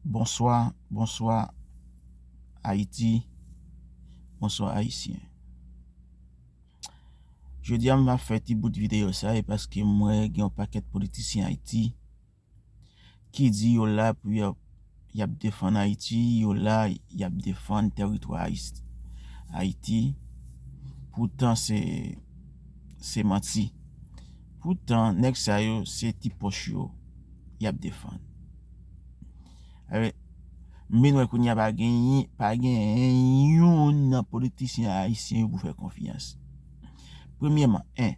Bonswa bonswa ayiti bonswa ayisyen jodi a m ap fè ti bout video sa e paske m wè gen yon pakèt politisyen ayiti ki di yo la pou yo Yap defann Haiti yo la yap defann teritwa Haiti poutan se se manti poutan nèg sa yo se ti poch yo yap defann eh m vin wè kounya pa gen pa gen youn nan politisyen ayisyen yo pou fè konfyans premyèman 1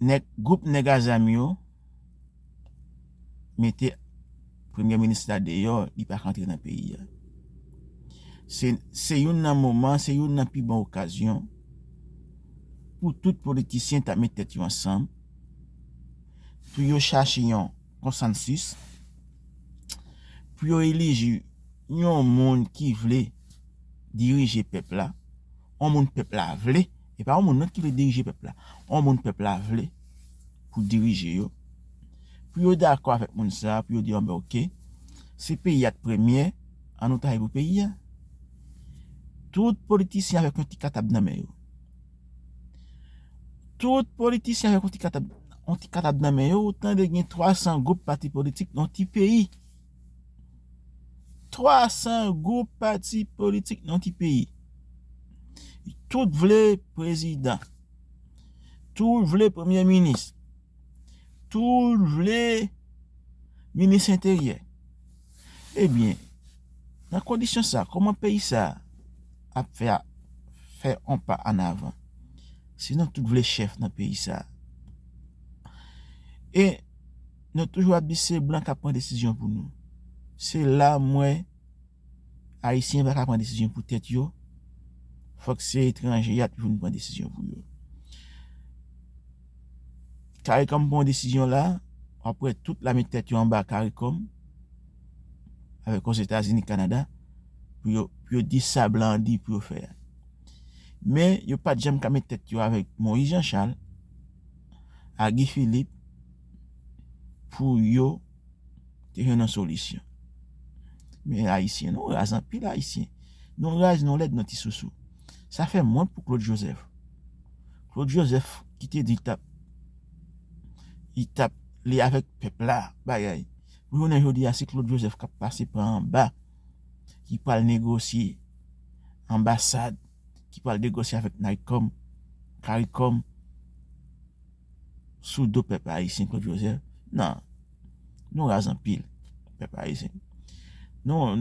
nèg gwoup nèg azam yo. mete premye minis la deyò li pa ka antre nan peyi a se youn nan moman se youn nan pi bon okazyon pou tout politisyen ta met tèt yo ansanm pou yo chache yon konsansis pou yo eliji yon moun ki vle dirije pèp la yon moun pèp la vle e pa yon moun lòt ki vle dirije pèp la yon moun pèp la vle pou dirije yo, pou yo dakò avèk moun sa a, pou yo di anben ok, si peyi a t premye, an nou travay pou peyi a. Tout politisyen avèk yon ti katab nan men yo. Tout politisyen avèk yon ti katab, yon ti katab nan men yo, ou tande gen 300 gwoup pati politik nan yon ti peyi. 300 gwoup pati politik nan yon ti peyi. Tout vle prezidan. Tout vle premye minis. Tout vle minis enteryè. Ebyen, nan kondisyon sa, kouman peyi sa ap fè a fè an pa an avan? Si nou tout vle chèf nan peyi sa. E nou toujou ap di se blan kap pran desizyon pou nou. Se la mwen. Ayisyen pa ka pran desizyon pou tèt yo, fòk se etranje y ap vin pran desizyon pou yo. Caricom pran yon desizyon la, w ap wè tout la met tèt yo anba caricom, avèk Ozetazini, Kanada, pou yo di sa blan an di pou yo fè a. Men, yo pa t janm ka met tèt yo avèk Moïse Jean Charles ak Guy Philippe pou yo. te jwenn yon solisyon. Men ayisyen nou raz anpil ayisyen. Nou raz nou lèd nou ti sousou. Sa fèm wont pou Claude Joseph. Claude Joseph ki te di tap li tap li avèk pèp la bagay. Pou jounen jodi a se Claude Joseph kap pase pa anba ki pral negosye anbasad ki pral negosye avèk Naycom, Caricom. sou do pèp ayisyen claude joseph nan nou raz anpil pèp ayisyen nou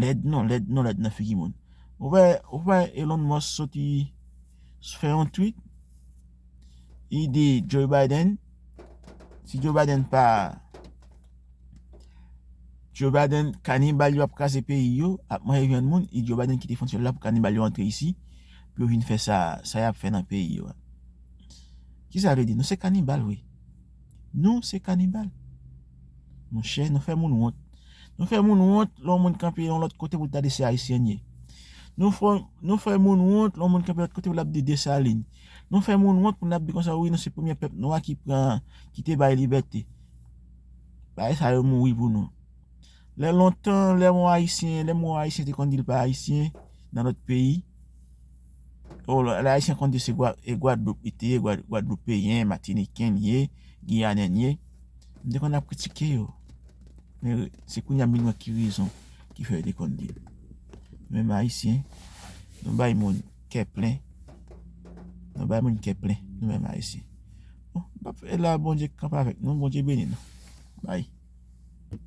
lèd nou lèd nou lèd nan figi moun ou wè ou wè elon musk soti fè yon tweet li di joe biden si joe biden pa joe biden kanibal yo ap kraze peyi yo ap manje vyann moun e joe biden kite fontyèl la pou kanibal yo antre isi pou yo vin fè sa sa yap fè nan peyi yo. Kisa vle di nou se kanibal wi. Nou se kanibal. Monchè nou fè moun wont. Nou fè moun wont lè yon moun kanpe yon lòt kote pou l ta di se Ayisyen l ye. Nou fè moun wont lè yon moun kanpe lòt kote pou l ap di Desalin. Nou fè moun wont pou n ap di konsa wi nou se premye pèp nwa ki pran, ki te bay libète. Bagay sa yo mouri pou nou. Lè lontan, lè mwen Ayisyen, lè mwen Ayisyen te konn di li pa Ayisyen nan lòt peyi. O, lè Ayisyen konn di se Gwadloup li te ye, Gwadloupeyen, Matiniken li ye, Giyanen li ye. Mwen te konn ap kritike yo. Men, se kounye a m vin wè ki rezon ki fè yo te konn di l. Men m Ayisyen, nou bay moun kè plen. Nou bay moun kè plen, nou menm Ayisyen. Bon, m pa p fè la, Bondye kanpe avèk nou, Bondye beni nou. Bay.